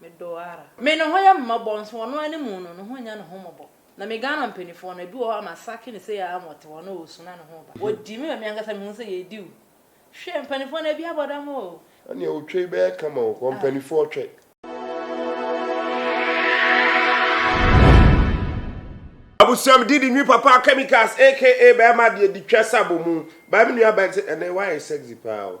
Me dɔ ara. Me ne ho yɛ mmɔbɔ nso ɔno anim no ne ho nnya ne ho mmɔbɔ na me Ghana mpaninfoɔ no ebi wɔ hɔ a masake no sei ara ma ɔte hɔ na ɔresu na ne ho reba ɔdi me wɔ me ankasa me hu sɛ yɛredi o hwɛ mpaninfoɔ no ebi abɔ dam oo. Ɛneɛ otwa yi bɛyɛ kama o wɔ mpaninfoɔ twɛ. Abusua me didi nwi papa chemicals aka bɛɛma deɛ di twa sa bɔ mu baa me nua bɛn se ɛnɛ wayɛ sexy paa o.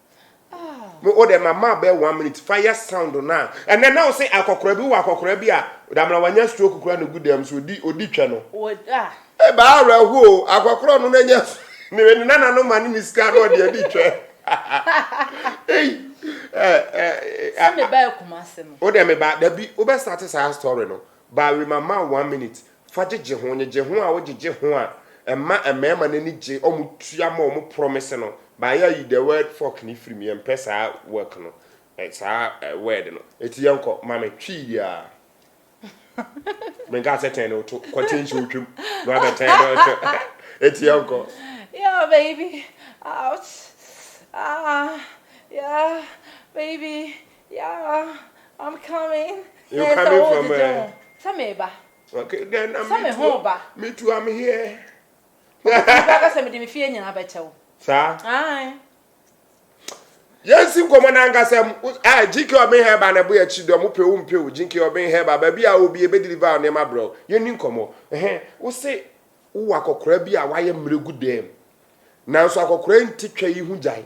mo o dɛ ma ma bɛ one minute fa yɛ sound no a ɛnɛ na wo se akɔkora bi wɔ akɔkora bi a damina wanya stroke kura ne gu dɛm so odi odi twɛ no e ba awura ho o akɔkora no na nya ne ne nana no ma ne ne sika no ɔde adi twɛ ei sɛ me ba akuma se no o dɛ me ba da bi wo bɛ start saa story no ba we ma ma one minute Fa gyegye ho, gyegye ho a wo gyegye ho a ɛma mmarima no ani gye wɔn tua ma wɔn promise no by yɛ ayi the word fuck no firi mu yɛn mpɛ saa work no saa word no ɛti yɛn kɔ ma me twii biara me nka sɛ tɛn no to kɔ tɛn nsuo twam na wabɛ tɛn no to ɛti yɛn kɔ yeah baby out ah yeah baby Yeah, I'm coming. You Yes, coming from where? Sɛ meba. Okay, then I'm Sɛ me ho ba. Me too, I'm here. Ɔkasa sɛ mede me fie nyinaa bɛkyɛ wo. Saa? Ae. Yɛnsi nkɔmmɔ no ankasa mu. Ah, GK ɔben hɛba na ɛbɔ yɛ akyi dɛ ɔmo pɛ wo mpɛ o. GK ɔben hɛba baabi a obi ebe deliver nneɛma brɛ o. Yɛnni nkɔmmɔ. Ɛhɛn, wo se wowɔ akɔkora bi a wayɛ mmerɛ gu dɛm. Nanso akɔkora nti twa yi ho gyae.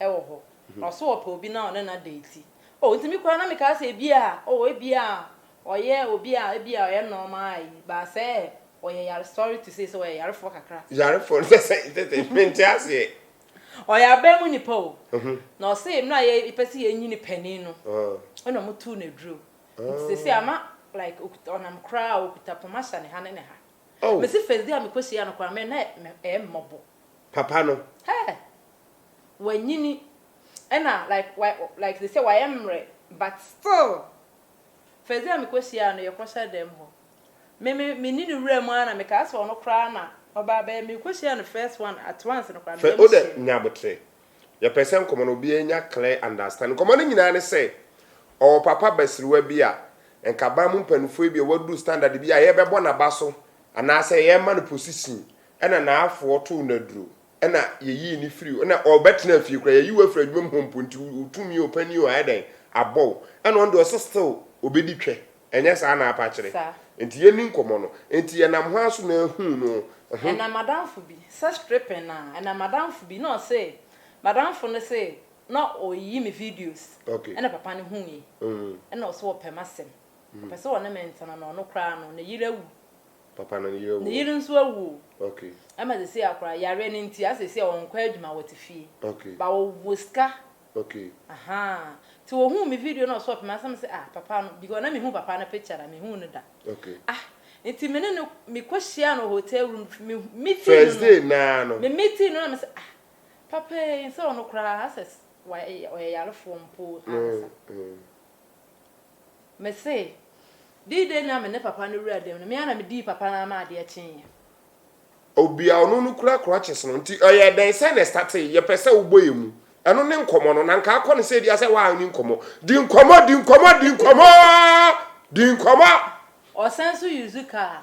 wɔ hɔ, na ɔso ɔpɛ obi na ɔne no adate. Oh, nti me koraa na mekaa sɛ ebia, oh, ebia ɔyɛ obi a ebia ɔyɛ nɔɔma ayi, baa sɛ ɔyɛ yare, sorry to say sɛ ɔyɛ yarefoɔ kakra. Yarefoɔ no sɛ sɛn, sɛ sɛn, mente aseɛ. Ɔyɛ aban mu nipa o, na ɔse mmerɛ a yɛpɛ sɛ yɛnyini panin no, ɛna ɔmo too no aduro, nti seesei ama like okuta, ɔnam koraa a okuta poma hyɛ ne ha ne ne ha. Mese first day a mekɔ hyiaa no koraa me, na ɛyɛ me mmɔbɔ. Papa no. Hɛɛ. wanyini ɛna like wa like te sɛ wayɛ mmerɛ but still first day a me kɔ hyiaa no yɛ kɔ hyɛ dan mu hɔ me me me ni no wura mu ara na me kaa sɛ ɔno koraa na ɔbaa bɛyɛ me kɔ hyiaa no first one at once no koraa me yam hyeɛ no. Nya aboterɛ yɛ pɛ sɛ nkɔmɔ no obiara nya clear understand nkɔmɔ no nyinaa ne sɛ ɔwɔ papa basiriwa bi a nka ban mu mpaninfoɔ bi a waduru standard bi a yɛbɛbɔ naba so anaa sɛ yɛma no position ɛna naafoɔ too no aduro. Ɛna yɛyii no firi hɔ. Ɛna ɔbɛtenaa fie koraa. Yɛayi wo afiri adwuma mu hɔ mpo, nti wo tumi o, panin o, ayɛ dɛn abɔ wo. Ɛna ɔno deɛ ɔse still ɔbɛdi twɛ. Ɛnyɛ saa na apa kyerɛ? Nti yɛnni nkɔmmɔ no. Nti yɛnam hɔ ara so na yɛhuu no. Ho. Ɛna m'adamfo bi, sɛ stripping a, ɛna m'adamfo bi, na ɔse, m'adamfo no se na ɔreyi me videos, Okay. ɛna papa no huui. Ɛna ɔse ɔpɛ m'asɛm. Ɔpɛ sɛ ɔne me ntena na ɔno koraa no, ne yere awu. Papa no yere Ne wo. yere nso awu o. Okay. Ɛma sɛsei akora yareɛ no nti asɛ sɛsei ɔnkɔ adwuma wɔte fie. Okay. But ɔwɔ sika. Okay. Ahaa. Nti ɔhuu me video na ɔsɔɔpe me ansa me se ah papa no because na mehu papa no picture da mehuu no da. Okay. Ah nti me ne no mekɔ hyiaa no wɔ hotel room me meeting no no. First day naa no. Me meeting no na me se ah papa ei nsɛ ɔno koraa asɛ ɔyɛ yarefoɔ mpo ankasa. Mm mm. Mese, Dii dɛn na me ne papa no wuraa dɛm no, me ara na medii papa no ara ma adeɛ kyeeɛ. Obia ɔno no kura crutches no nti ɛyɛɛ dɛn sɛn na ɛstartee yɛpɛ sɛ wobɔ yɛn mu ɛno ne nkɔmmɔ no na nka akɔ no sɛ bia sɛ waa ne nkɔmmɔ di nkɔmmɔ di nkɔmmɔ di nkɔmmɔ di nkɔmmɔ. Ɔsan nso use car.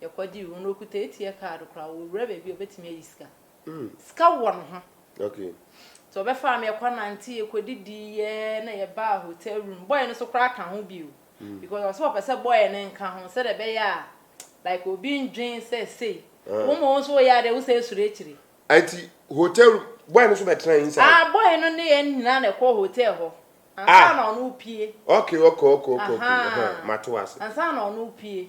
Yɛkɔ di wura no ɔkuta ATM card koraa ɔwura baabi a ɔbɛtumi ayi sika. Sika wɔ ne ho. Nti ɔbɛfaa me yɛkɔ nante yɛkɔ didi yɛ na yɛ baa hotel room boy no so koraa ka ho bio because ɔsɛ ɔpɛ sɛ boy no nka ho sɛdeɛ ɛbɛyɛ a like obi ndwen sɛ sei wo ma wo nso woyɛ adeɛ wo sɛ ɛsuro akyire. Nti hotel room boy no so bɛtena inside. Ah boy no ne yɛn nyinaa na ɛkɔɔ hotel hɔ ansa na ɔno repue. Okay okay okay okay mato ase. Ansa na ɔno repue.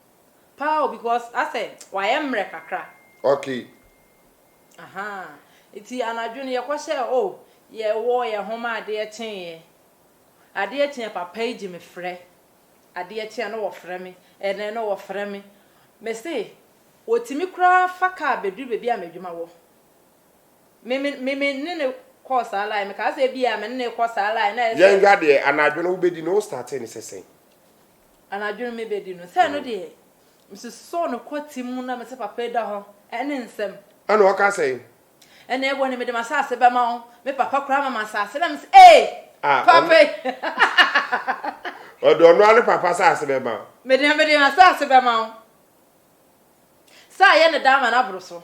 Paa o because asɛ wayɛ mmerɛ kakra. Okay. Ahaa nti anadwo no yɛkɔ hyɛɛ oh yɛ wɔ yɛn ho ma adeɛ kyeeɛ adeɛ kyeeɛ papa yi gye me frɛ adeɛ kyeeɛ na ɔfrɛ me ɛnɛ na ɔfrɛ me me se ɔtumi koraa fa car bɛduru baabi a m'adwuma wɔ me me me me ne no kɔɔ saa line me kaa sɛ ebia me ne no rekɔ saa line na ayɛ sɛ. Yɛn hwɛ adeɛ anadwo no wo bɛdi no wo startee no sɛ sɛn. Anadwo no mebɛdi no. Sɛ ɛno deɛ, mesosɔɔ no kɔ tim mu na mese, Papa yi da hɔ, ɛne nsɛm. Ɛna ɔka sɛn? Ɛna ɛwɔ ne, Mede m'asase bɛma wo. Me papa koraa ma m'asase. Ɛna mese, Ee! Papa yi! Ɔde ɔno ara ne papa asase bɛma wo? Me deɛ, mede m'asase bɛma wo. Sɛ ayɛ no dɛ ama no aboro so.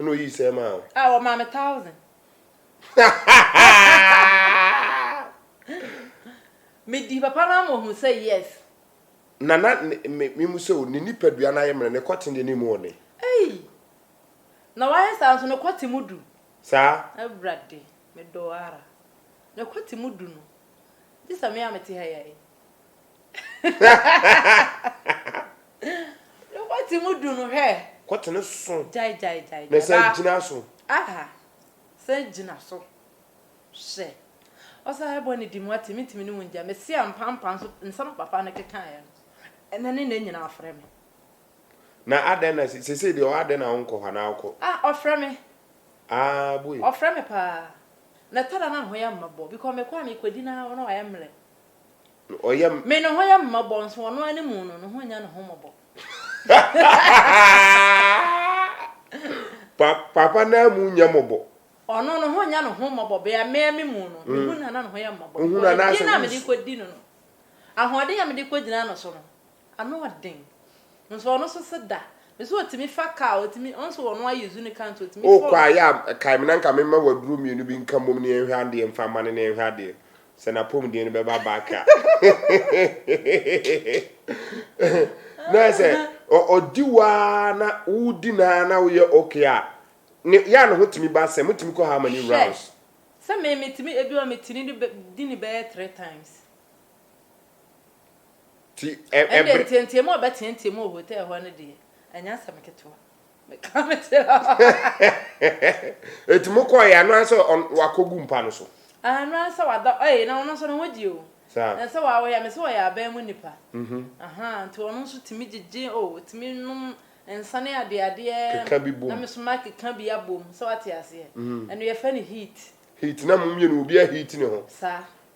Ɛna oyii sɛɛ maa wo. Ah, ɔmaa me thousand. Medi papa no ama ohu sɛ yes. Na na me me mu sɛ o, ne nipadua no ayɛ mmerɛ, ne kɔte deɛ ne mu ɔne. Ei! Na wayɛ saa nso ne kɔte mu du. Saa? Awurade, medɔɔ ara. Ne kɔte mu du no, gye sɛ me a mete ha yi ayɛ. No kɔ te mu du no hwɛ. Kɔ te ne so. Gyae gyae gyae. Na san gyina so. Aha san gyina so hwɛ. Ɔsan bɔ ne di mu ate me ntumi ne wo ngya me se ampa ampa nso nsɛm a papa no kekaeɛ no ɛna ne nna nyinaa ɔfrɛ me. Na adɛn na sesei deɛ ɔwɔ adɛn na wo nkɔ hɔ anaa wokɔ. Ah ɔfrɛ me. Ah boy. Ɔfrɛ me paa na ɛtɔ da na ho yɛ mmɔbɔ because mekɔ a mekɔdi na ɔno wayɛ mmerɛ. Me ne ho yɛ mmɔbɔ nso ɔno ara ne mu no, ne ho nnya ne ho mmɔbɔ. Papa no ara mu nnya mmɔbɔ. Ɔno, ne ho nnya ne ho mmɔbɔ bere a me ara me mu no, me hu no a na ne ho yɛ mmɔbɔ. Enti, din a mede rekɔdi no no, ahoɔden a mede rekɔgyina no so no, Ano ɔden. Nso ɔno nso se da. Me se otumi fa car, otumi, ɔno nso ɔno ayɛ zuni car nti otumi fa. Wokɔ a yɛ a kae me na nka me mma w'aduro mmienu bi nka mmom na yɛnhwɛ adeɛ mfa mma no na yɛnhwɛ adeɛ sɛ n'apɔmuden no bɛba back a. Na ayɛ sɛ ɔ, ɔdi wo ara na wodi no ara na woyɛ okay a, ne, yɛ a ne ho tumi ba asɛm. Motumi kɔ how many Hwɛ. rounds? Sɛ me, metumi, ebi wɔ hɔ a metumi de bɛ, di no bɛyɛ three times. Ɛnde nteateam a ɔbɛteateam wɔ hotɛl hɔ no deɛ, ɛnyɛ asɛm ketewa. Mekaa me tiri hɔ. Enti mokɔeɛ a, na ɔyɛ sɛ wakɔgu mpa no so? Aane, na ɔyɛ sɛ wadɔ. Ei, na ɔno nso ne ho gye o. Saa. Na sɛ wawoeɛ a, mese wɔyɛ aban mu nnipa. Ahaa, nti ɔno nso tumi gyegye o, ɔtumi nom nsa ne adeadeɛ. Keka bi bom. Na me nso makeka bi abom, sɛ woate aseɛ. Ɛno yɛfrɛ no heat. Heat, na mo mmienu obiara heat ne ho. Saa.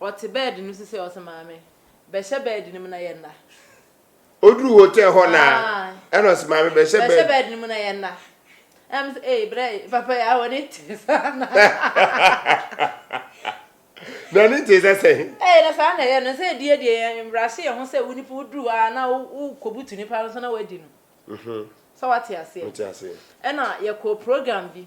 Ɔte bɛɛd no so sei, ɔse maame, bɛhyɛ bɛɛd no mu na yɛnna. Ɔduru hotel hɔ no ara, ɛna ɔse maame, bɛhyɛ bɛɛd. Bɛhyɛ bɛɛd no mu na yɛnna. Ɛna me se, ee, brɛ yi, papa yi awɔ ne tee saa na. Na ne tee sɛ sɛn? Ee, na saa na ɛyɛ no, sɛ ɛdie deɛ yɛn mmara hye yɛn ho sɛ wo nipa woduru hɔ ara na wokɔbutu nipa no so na wadi no. Sɛ woate aseɛ? Mete aseɛ. Ɛna yɛkɔɔ program bi,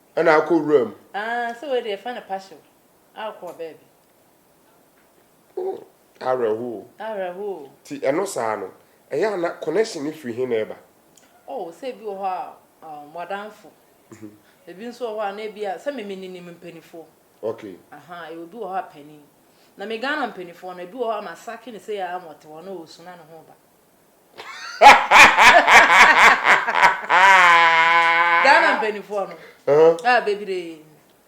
Ɛna akɔ wura mu. Aa sɛ wei deɛ yɛfrɛ no pahyew a wokɔ ɔbaa bi. Oh awerɛho o. Awerɛho o. Ti ɛno saa no ɛyɛ a na connection no firi he na ɛba? Oh sɛ ebi wɔ hɔ a um w'adanfo ebi nso wɔ hɔ a na ebi a sɛ me me ninim mpanifoɔ. Okay. Aha yɛwɔ bi wɔ hɔ a panin na me Ghana mpanifoɔ no ebi wɔ hɔ a masake no sei aa ma ɔte hɔ na ɔresuna ne ho ba. Ghana mpaninfoɔ no a bebree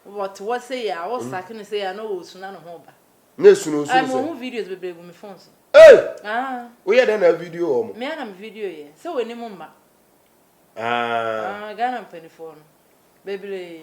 wɔte hɔ sei a wɔ sake no sei a na ɔwɔ su na ne ho ba. Na esu no nsu no sɛ. Ɛmɛ ɔho videos bebree gu me phone so. Ee! Ah. Woyɛ dɛ na avideo wɔ mo. Mmea na me video yɛ sɛ wɔn anim mma. Ah. Ah Ghana mpaninfoɔ no bebree.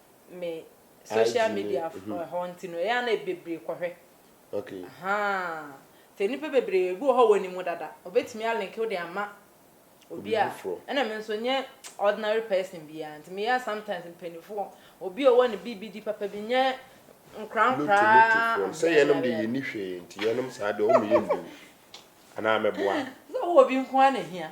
me social media hɔ nti no ɛyɛ a na bebree kɔhwɛ ahaa nti nnipa bebree ebi wɔ hɔ a wɔnim wo dada obetumi alink wo de ama obi a ɛna me nso nyɛ ordinary person biara nti meyɛ a sometimes mpanimfoɔ obi a ɔwɔ ne biribi di papa bi nyɛ nkorankoraa sɛ yɛnom de yɛni hwee nti yɛnom saa deɛ ɔmo yɛ ndu anaa mɛboa sɛ wɔ obi nko ara na hia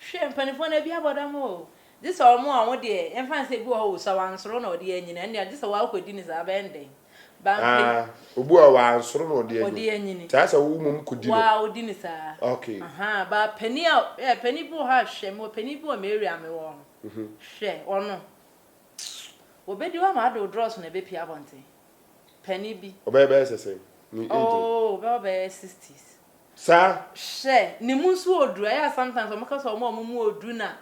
Hwɛ mpaninfoɔ no ebi abɔ dam o gye sɛ wɔn a wɔn deɛ yɛnfa nsɛ ebi wɔ hɔ o sɛ wansoro na ɔde anyini ɛnde a gye sɛ wakɔ di ne saa bɛyɛ no dɛn bampe. Ah obi wɔ hɔ wansoro na ɔde anyini ɔde anyini te asɛ wo mmom kɔ di no waa ɔdi ne saa ok ahaa baa panin a ɛɛ panin bi wɔ hɔ a hwɛ mewɔ panin bi wɔ me area a mewɔ hɔ no hwɛ ɔno wɔbɛdi wo ama ade wo drɔso na ɛbɛpie abɔnten. Panin bi. Ɔbɛyɛ bɛyɛ sɛ sɛn? Ne age no? Oh, ɔbɛwɔ bɛyɛ sixties. Saa? Hwɛ, ne mu nso ɔɔduru. Ɛyɛ a sometimes wɔka sɛ wɔn a wɔn mu ɔɔduru na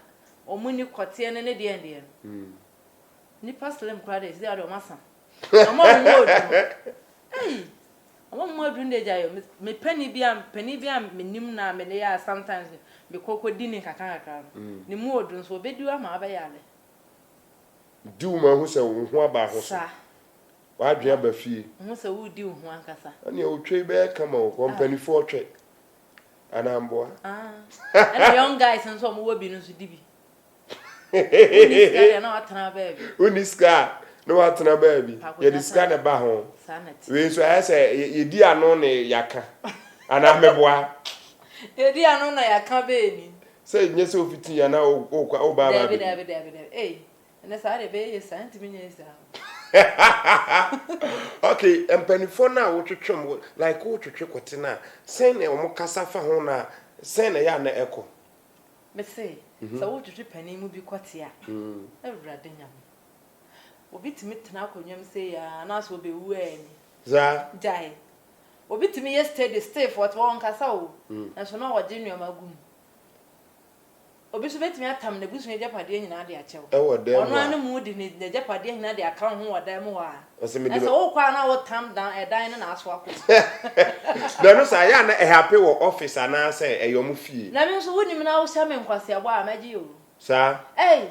wɔn nni kɔteɛ ne ne deɛn deɛn no. Nnipa slim koraa deɛ, seesei ara deɛ wɔasa. Wɔn a wɔn mu ɔɔduru no, ei, wɔn a wɔn mu aduru no deɛ gyae o. Me panin bi a, panin bi a menim no a me ne yɛ a sometimes mekɔ kɔdi ne nkakrankakra no, ne mu ɔɔduru nso, ɔbɛdi wo ama woabɛyare. Di wo ma hu sɛ wo ho aba ho so. W'adwene aba fie. Hu sɛ woredi wo ho ankasa. Ɛnneɛ otwa yi bɛyɛ kama o. Mpanifoɔ twɛ anaa mboa? Ah, ɛna young guys nso a wɔwɔ bi no nso di bi. Wonni sika deɛ na watena baabi. Wonni sika a na watena baabi. Yɛde sika na ɛba ho. Wei nso ayɛ sɛ yɛdi ano na yɛaka anaa meboa? Yɛdi ano na yɛaka bɛɛ ni. Sɛ nyɛ sɛ ofitii anaa okwa obaa baa bɛ mu. Daabi daabi daabi daabi ei ɛnɛ saa deɛ bɛyɛ yɛ saa ntumi nyɛ yɛ saa o. Ok mpaninfoɔ no a wotwetwe mo like wotwetwe kɔte no a sɛn na wɔn kasa fa ho na sɛn na ɛyɛ a na ɛkɔ. Me se sɛ wotwetwe panin mu bi kɔte a awurade nyame obi tumi tena akonnwa mu sei aa anaasɛ obewu aa ni. Saa. Gyae. Obi tumi yɛ steady, stiff, ɔte hɔ ɔnkasa o, nanso na ɔregye nneɛma agu mu. Obi nso betumi atam n'abusua agyapadeɛ nyinaa de akyɛ wo. Ɛwɔ dan mu a. Ɔno ara ne mu de ne n'agyapadeɛ nyinaa de aka wo ho wɔ dan mu hɔ a. Na sɛ mede. Na sɛ wokɔ a na wotam dan ɛdan no na aso akɔ mu. Na ɛno saa yɛ a na ɛhape wɔ office anaa sɛ ɛyɛ wɔn fie. Na me nso wonim na wohyɛ me nkwaseabɔ a mɛgye o. Saa. Ei.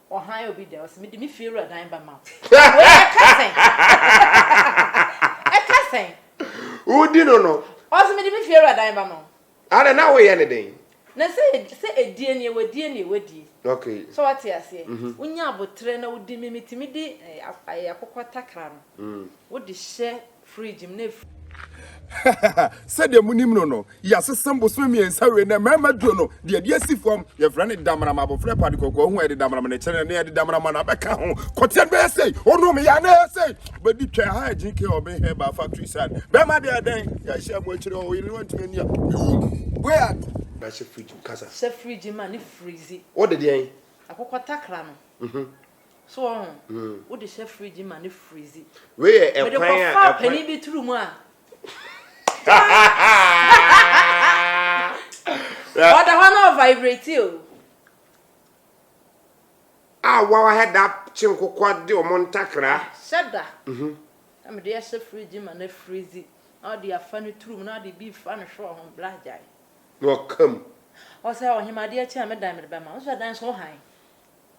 Ɔhan obi dɛ ɔse mede me fiewura dan bɛma wo. Wei ɛka sɛn? Ɛka sɛn? Wodi no no. Ɔse mede me fiewura dan bɛma wo. Adɛn na woyɛ no dɛn? Na sɛ sɛ ɛdie nie wadie nie wadie. Okay. So wate aseɛ? Wonya aboterɛ na wodi me metumi de akokɔ takra no wode hyɛ Fridge mu na efiri. Sɛdeɛ monim no no, yɛasesa mu bosome mmiɛnsa wei, na mmarima duo no, deɛ ɛde asi fam, yɛfrɛ no Damrama, abɔfra pa de kɔkɔɔ hu a yɛde Damrama na ɛkyerɛ no, na yɛde Damrama na abɛka ho. Kɔteɛ no bɛyɛ sei, ɔnom yɛ a na ɛyɛ sei, bɛdi twɛ ha a GK ɔbe hɛ ba fa tui sane. Bɛrima deɛ ɛdɛn, yɛahyia mu akyire hɔ, ɔyere no antumi ani a, mewom. Wei a. Na hyɛ fridge mu kasa. Hyɛ fridge mu a ne freeze. Wode deɛn? Akokɔtakra no. So wɔho? Wo de hyɛ fridge ma no freeze. Wei yɛ ɛkwan a ɛkwan. Mede kɔfa panin bi turu mu a. Ɔda hɔ na ɔvibrate o. A wawa head up kye nkokɔ de wɔn ntakra. Hyɛ da. Mhm. Na mede ahyɛ fridge ma no freeze. Na ɔde afa no turu mu na ɔde bi fa no hwɛ wɔho bla gyae. Na ɔka mu. Ɔsɛ ɔhema adeɛ kye a me dan mede bɛma. Nso ɛdan so hann.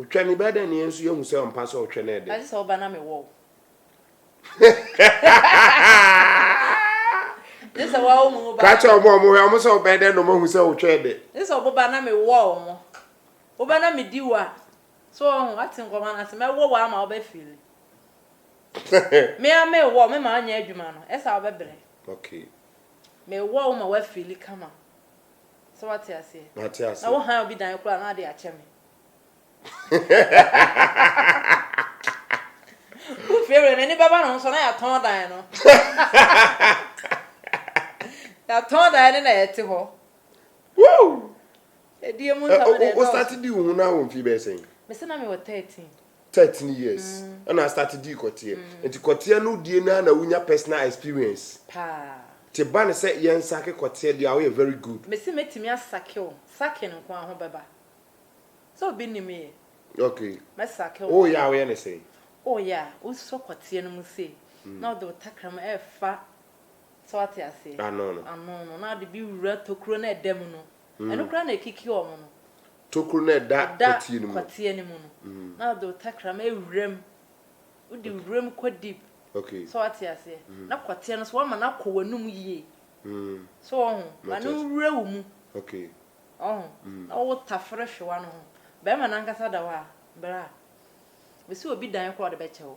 Otwa ne bɛdɛn ne yɛn nso yɛhu sɛ ɔmpa sɛ ɔtwɛ ne ɛdɛn. Ɛte sɛ ɔba na mewɔ wo. Ne sɛ wɔwo mu wo ba. Ka kyerɛ ɔmo ɔmo hwɛ ɔmo sɛ ɔbɛn dɛn na ɔmo ahu sɛ ɔtwɛ ɛdɛn. Ne sɛ ɔboba na mewɔ wo mo. Woba na medi wo a. So ɔho ate nkɔmɔ no ase mɛwɔ wo ama wobɛ fili. Mea mewɔ me ma ɔnyɛ adwuma no ɛsa wobɛbrɛ. Okay. Mewɔ wo ma wafili kama. Sɛ wate aseɛ. Mate aseɛ. Na wo han obi dan koraa na ade akyɛ me. Wo fie wura n'ani bɛba ne ho so na yɛatɔn dan no. Yɛatɔn dan no na yɛte hɔ. Woo! Ɛdeɛ mu nsɛm na ɛdɔɔso. Wo start di wo ho na wo mfie bɛyɛ sɛn? Mese na mewɔ 13. thirteen years ɛna start dii kɔteɛ nti kɔteɛ no die no ara na wonya personal experience paa nti ba no sɛ yɛn sake kɔteɛ deɛ a woyɛ very good. Mese mɛtumi asake wo sucking nko ara ho bɛba sɛ obi nnim me yɛ Okay mɛ sake wo woyɛ a woyɛ no sɛn? Woyɛ a wosɔ kɔteɛ no mu sei na wode wo takra mu ɛrefa so wate aseɛ Ano no. ano no na wode bi wura tokuro no a ɛda mu no Ɛno koraa na ɛkiki wɔn no. Tokuro no a ɛda kɔteɛ no mu. Ɛda kɔteɛ no mu no. Na wɔde wo tɛkrɛma awura mu. Wode wura mu kɔ deep. So wate aseɛ? Na kɔteɛ no so, woama no akɔ w'anum yie. So woahu? Ma no nwura wo mu. Woahu? Na wotafere hwewa no ho. Barima no ankasa da hɔ a, bra. Mese obi dan koraa a ɔde bɛkyɛ wo.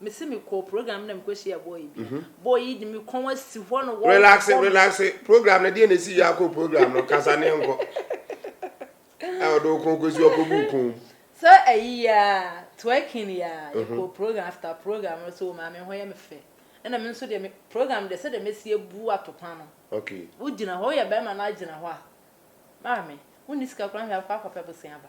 Me se me kɔɔ program bi na me kɔ hyia boy bi. Mhm. Boy yi de me kɔn asi hɔ no wɔ. Relax relax program no deɛ na esi yɛ akɔ program no kasa ne nkɔ. Ɛwɔ de okun kɔ si ɔkɔ bu kun. So ɛyi ya twerking ya yɛ kɔ mhm. program after program no so maame hɔ yɛ me fɛ. Ɛna me nso deɛ me program deɛ sɛ deɛ mesi ebu atopa no. Okay. Wo gyina hɔ yɛ bɛrima na agyina hɔ a. Maame, wo ni sika kura hwɛ akɔ akɔpɛ bosia ba.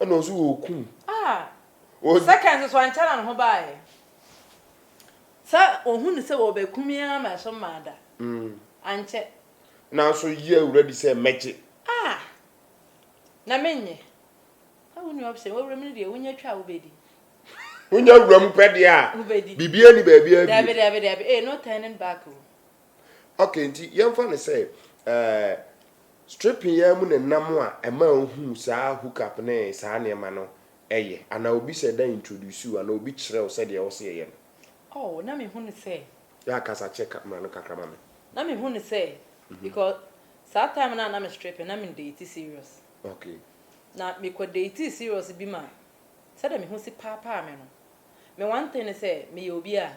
Ɛna ɔso wɔ okum. Ah! Seconds so ankyɛ na ne ho baeɛ. Sɛ ɔhu no sɛ wɔbɛku me ara ma ɛso mmaa da. Ankyɛ. Nanso yɛ wura di sɛ mɛgye. Ah! Na menyɛ. Sɛ wonni option, wɔ wuram no deɛ wonya twa a wobɛdi. Wonya wuram pɛ deɛ a. Wobɛdi. Biribiara ni baabiara bio. Daabi, daabi, daabi. Ee, no turning back o. Ok, nti yɛmfa no sɛ eh, stripping yi ara mu na nam a ɛma ohuu saa hook up ne saa nneɛma no yɛ, anaa obi sɛ da introduce wo anaa obi kyerɛ wo sɛdeɛ ɛwɔ sɛ yɛyɛ no. Oh, na mehu no sɛ. Yɛ a kasa kyɛ camera no kakra ma me. Na mehu no sɛ, because saa time no a na me stripping no na me date serious. Ok. Na me kɔ date serious bi ma sɛdeɛ me ho si paapaa me no, me one thing ne sɛ meyɛ obi a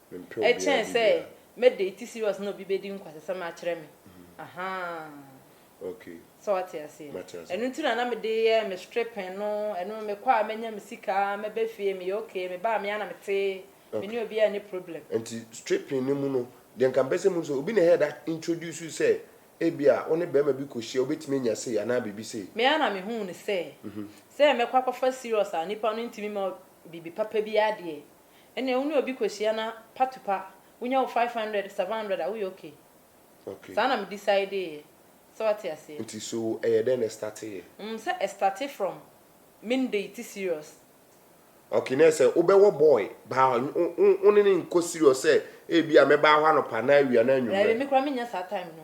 Ɛkyɛn sɛ mɛ date serious na obi bɛdi nkwasasɛm akyerɛ me ahaa sɛ wate aseɛ ɛno nti na na me de yɛ me stripping no ɛno me kɔ a mɛnya me sika mɛbɛ fie meyɛ okay me baa me ana me te me ne obi a ne problem. Nti stripping no mu no deɛ nka mpɛ sɛ mu sɛ obi na ɛyɛ da introduce you sɛ ebi a wo ne bɛrima bi kɔ hyia wobɛtumi anya sei anaa biribi sei. Me ara na me huu no sɛ sɛ mɛkɔ akɔfa serious a nipa no ntumi ma biribi papa biara deɛ Ɛnneɛ wo ne obi kɔhyia na pa to pa, wonya wo five hundred, seven hundred a, woyɛ okay. Okay. Saa na me decideeɛ. Sɛ wate aseɛ? Nti so ɛyɛ dɛn na ɛstarteeɛ? Mm, sɛ ɛstarte from me ndate serious. Okay, na ɛsɛ wobɛwɔ boy baa hɔ, wo ne no nkɔ serious sɛ ebia mɛbaa hɔ anɔpa anaa awia anaa anwummerɛ? Daabi, me koraa mennya saa time no.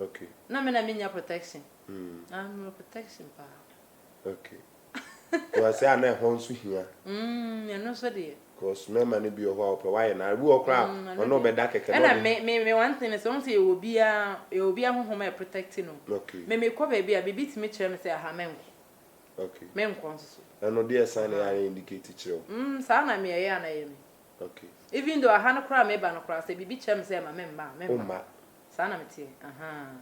Okay. Na me na me nya protection. Mm. Na me wɔ protection paa. Okay. Wɔ sɛ ana ɛhɔ nso hia. Mm, ɛno nso deɛ. Because mmarima no bi wɔ hɔ a wɔpɛ wɔayɛ na ebi wɔ koraa mm, ɔno ɔbɛda kɛkɛ na ɔde. me me me one thing sɛ wɔn sɛ yɛ wɔ bia yɛ wɔ bia honhom a protect no. Okay. Me me kɔ baabi a bibi tumi kyerɛ me sɛ aha me nkɔ. Okay. Me nkɔ nso so. Ɛno deɛ sign na yɛ indicate kyerɛ wo. Mm, saa na me ɛyɛ ana yɛ me. Even though aha no koraa a meba no koraa sɛ biribi kyerɛ me sɛ ɛma me mma a, memma. Saa na meteɛ. Ahaa.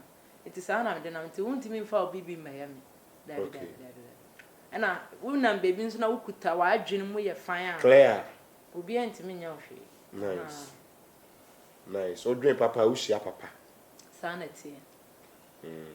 Nti saa na mede nam. Nti wontumi mfa obi bi mmɛyɛ me. Daabi, daabi, daabi, daabi. Ɛna wonam baabi nso na wokuta w'adwene mu yɛ fann a. Clear. Obiara ntumi nyɛ wo hwee. Nice. Nice. Wodwen papa a, wohyia papa. Saa na ɛteɛ. Mm.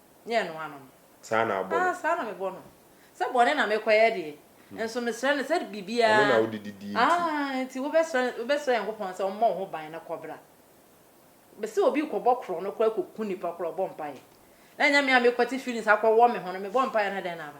ne ɛno ano no. Saa na abɔ no. Ah, saa na mebɔ no. Sɛ bɔne na mekɔyɛ deɛ, nso mesrɛ no sɛ biribiara. Ɔno na wode didie nti. Ah, nti wobɛsrɛ, wobɛsrɛ Nyankopɔn sɛ ɔmmɔ wo ho ban na kɔbra. Mese obi rekɔbɔ korɔn no koraa kɔku nipa koraa, ɔbɔ mpaeɛ. Na ɛnyɛ me a mekwati feelings akɔwɔ me ho no, mebɔ mpaeɛ na dɛn na aba?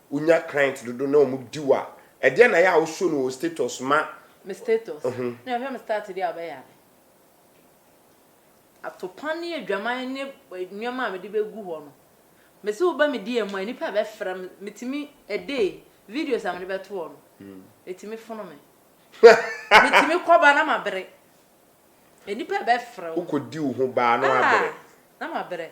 Wonya client dodo na wɔn di wo a, ɛdeɛn na ɛyɛ a wo show no wɔ wo status ma? Me status? Me hwɛ me start deɛ a ɔbɛ yaa me. Atopa ne adwaman ne nneɛma a me de bɛ gu hɔ no, me se wo ba me DM a nnipa bɛ frɛ me, me tumi a day, videos a me de bɛ to hɔ no, ɛtumi fono me. Me tumi kɔ ba na ma bere. Nnipa bɛ frɛ wo. Wo kɔ di wo ho baa na wa bere. Ah! Na ma bere.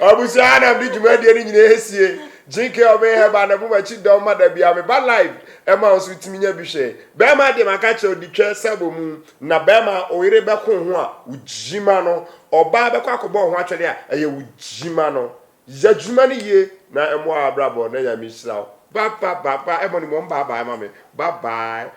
Abusua ha na mede dwumadie no nyinaa esie. Jinke ɔbɛn hɛba na bu makyi dɔm ma da bia meba live ɛma wo nso tumi nya bi hwɛ. Bɛɛma deɛ maka kyerɛ wo di twɛ sɛ bɔ mu na bɛɛma a oyere bɛko ho a wo gyima no ɔbaa bɛkɔ akɔbɔ wo ho atwɛdeɛ a ɛyɛ wo gyima no. Yɛ adwuma no yie na ɛmoa w'abrabɔ na Nyame hyira wo. Ba ba ba ba ɛmɔ ne mu ɔmo bye bye ma me. Bye bye.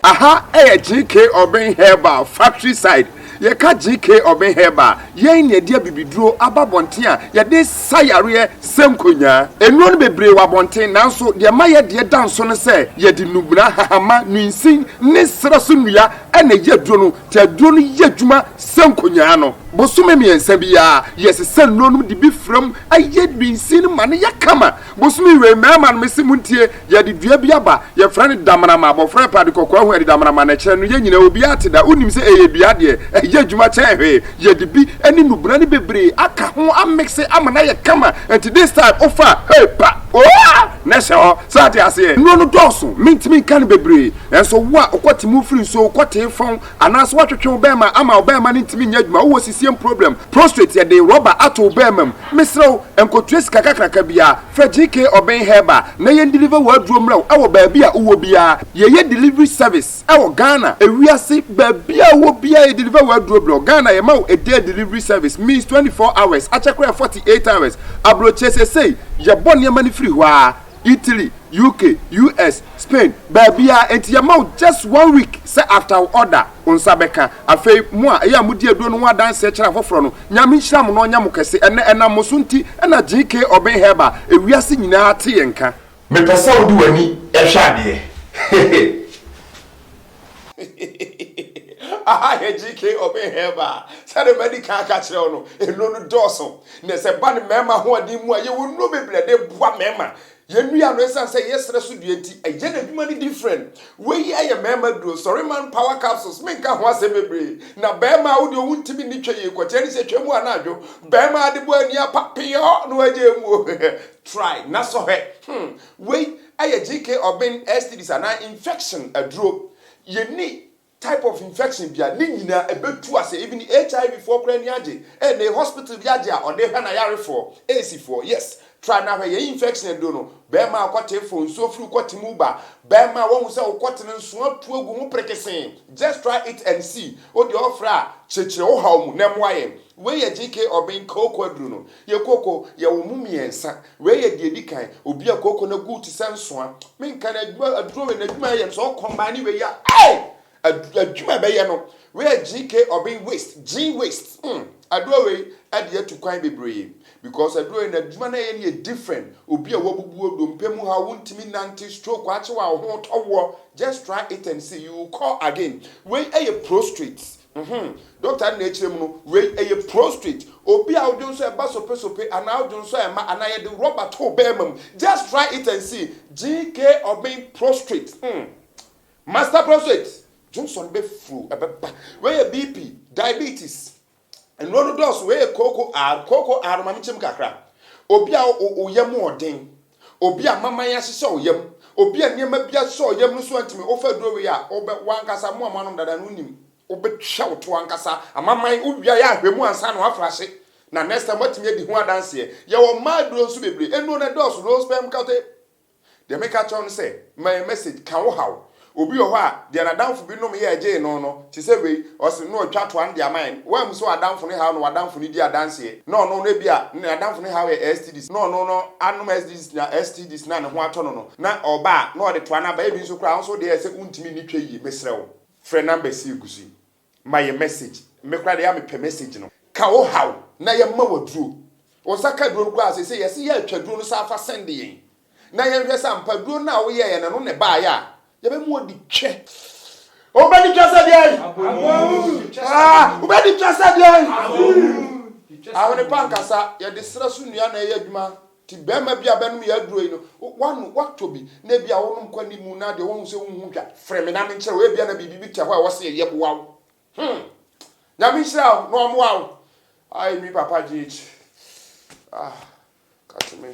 Aha yɛ GK Urban Herbal factory side, yɛka GK Urban Herbal a, yɛn na yɛde abibiduro aba abɔnten a yɛde sa yareɛ sɛ nkonyaa. Nnuro no bebree wɔ abɔnten nanso deɛ ɛma yɛn deɛ da nso ne sɛ yɛde nnubena, nhahamma, nwiinsin ne serɛ so nnua na ɛyɛ aduro no nti aduro no yɛ adwuma sɛ nkonyaa no. Bosome mmiɛnsa biara yɛsesa nnuro no de bi fra mu yɛ nwiinsin no ma no yɛ kama. Bosome wei mmarima no mese montie yɛde dua bi aba yɛfrɛ no damanama abɔfra ɛpɛ ade kɔkɔɔ ahu ɛde damanama na ɛkyerɛ no yɛn nyinaa obiara te da wonim sɛ ɛyɛ dua deɛ ɛyɛ adwuma kyɛn hwee yɛde bi ne nnubena no bebree aka ho amekse ama no ayɛ kama nti this time wofa hey pa ooaa na ɛhyɛ hɔ so ate aseɛ nnuro no dɔɔso mentumi nka no bebree nanso wo a wokɔte mu firi nsuo wokɔtee fɔn Anaase watwetwe wo bɛɛma ama wo bɛɛma no ntumi nyɛ adwuma wowɔ sisiem problem prostrate yɛde rɔba ato wo bɛɛma mu mesrɛ wo nkɔtua sika kakraka biaa frɛ GK Ɔbɛn Herbal na yɛn deliver w'aduro mmerɛ wo ɛwɔ baabi a wowɔ biaa yɛyɛ delivery service ɛwɔ Ghana ewiase baabi a wowɔ biaa yɛ deliver w'aduro brɛ wo Ghana yɛma wo a day delivery service means 24 hours akyɛ koraa 48 hours abrɔkyie sesei yɛbɔ nneɛma no firi hɔ aa Italy, UK, US, Spain, baabiara, enti yɛma wo just one week sɛ after wo order, wo nsa bɛka. Afei, mo a ɛyɛ a modi aduro no ho adanseɛ kyerɛ afoforɔ no, Nyame nhyira mo na ɔnyɛ mo kɛse. Ɛnnɛ, ɛnam mo so nti na GK Urban Herbal, ewiase nyinaa te yɛn nka. Mepɛ sɛ wode w'ani hwɛ adeɛ. Aha yɛ GK Obey Herbal. Sɛdeɛ madi kan aka akyerɛ wo no, nnuro no dɔɔso. Na sɛ ɛba no mmarima ahoɔden mu a, yɛwɔ nnuro bebree a ɛde boa mmarima. Yɛn nnuro yi ano, ɛsiane sɛ ɛyɛ serɛ so dua nti, ɛyɛ n'adwuma no different. Wei yi yɛ mmarima duro, Sɔreman Power Capsules. Menka ho asɛm bebree. Na barima a wo deɛ wontumi nni twa yei, kɔkyɛ ne sɛ twa mu anaa dwo. Barima a ade bɔ ani apa peyɔɔ na wagyae mu o. Try na sɔ hwɛ. Hmm. Wei Ɛyɛ GK ɔben, STDs anaa infection aduro. Yɛnni type of infection bia, ne nyinaa ɛbɛtu ase, even HIV foɔ koraa ani agye, ɛnne hospital bi agye a ɔde hwɛ n'ayarefoɔ, AIDS foɔ, yes, try na hwɛ yɛn infection aduro no, bɛɛma a ɔkɔte fo, nsuo firi wo kɔte mu ba, bɛɛma a wahu sɛ wo kɔte no nso atu agu ho perekesee, just try it and see, wo deɛ ɔfrɛ a, kyerɛkyerɛ wo haw mu na ɛmoa yɛn. Wei yɛ GK ɔben, kooko aduro no. Yɛ kooko, yɛ wɔn mu mmiɛnsa. Wei yɛ deɛ ɛdi kan, obi a kooko no gu te sɛ nsoa. Menka no, adwuma, aduro wei n'adwuma yɛ no sɛ ɔkɔmbane wei a, ei! Ad, adwuma ɛbɛyɛ no. Wei yɛ gene ke ɔben waste, gene waste. Hmm, aduro wei ɛde atu kwan bebree. Because aduro wei n'adwuma no ɛyɛ no yɛ different. Obi a wabubu wo, dompe mu haw, wontumi nnante, stroke akye wo a wo ho retɔ woɔ, just try it and see, you will call again. Wei ɛyɛ prostrate. Mhmm dɔkta nna ɛkyerɛ mu no wei ɛyɛ prostrate obi a wodwonsɔ ɛba sopesope anaa wodwonsɔ ɛma anaa yɛde rɔba too bɛɛma mu just try it and see GK of being prostrate hmm master prostrate dwonsɔ no bɛ fro ɛbɛba wei yɛ BP diabetes nnuro no dɔɔso wei yɛ koko R koko R ma me kyem kakra obi a wo yam ɔden Obi a maman ahyehyɛ wo yam, obi a nneɛma bi asosɔ wo yam no so antumi, wofa aduro wei a, wobɛ, w'ankasa, mo a moanom dada no wonim, wobɛtwa wo to ankasa, amaman, wowia yɛ ahwɛ mu ansa na woafra ase, na next time woatumi adi ho adanseɛ. Yɛwɔ mmaa aduro nso bebree, nnuro no dɔɔso, low sperm count, deɛ meka kyerɛ wo ne sɛ, ma yɛn message, ka wo haw, Obi wɔ hɔ a, deɛ n'adamfo bi nom yɛɛ gyee no no, te sɛ wei, ɔse na ɔtwa toa no de ama yɛn. Woanhu sɛ w'adamfo no haw na w'adamfo no di adanseɛ, na ɔno no ebia ne n'adamfo no haw yɛ STDs, na ɔno no anom STDs na STDs na ne ho atɔ no no, na ɔba a, na ɔde toa no aba, ebi nso koraa wo nso deɛ ɛsɛ wontumi nni twa yie, mesrɛ wo, frɛ numbers yi egu so yi, Ma yɛn message. Me koraa deɛ ɛyɛ a mepɛ message no. Ka wo haw na yɛmma wo aduro. Wo nsa ka aduro no koraa a seesei yɛse yɛatwa aduro no saa fa send yɛn na yɛnhwɛ sɛ ampa aduro no a woyɛeɛ no ɛno na ɛbaeɛ a yɛbɛma wadi twɛ. Wobɛdi twɛ sɛ deɛn? Haa! Wobɛdi twɛ sɛ deɛn? Ahwenepa ankasa, yɛde serɛ so nnua na ɛyɛ adwuma. Te barima bi a bɛnom yɛ aduro yi no, w'ano watɔ bi na ebia wonom kɔ anim na deɛ wahu sɛ wonhu hwa. Frɛ me na menkyerɛ wo, ebia na biribi bi te hɔ a ɛwɔ sɛ yɛyɛ boa wo. Hmm! Nyame nhyira wo na ɔmmoa wo. Aye me papa GH. Ah, ka to me.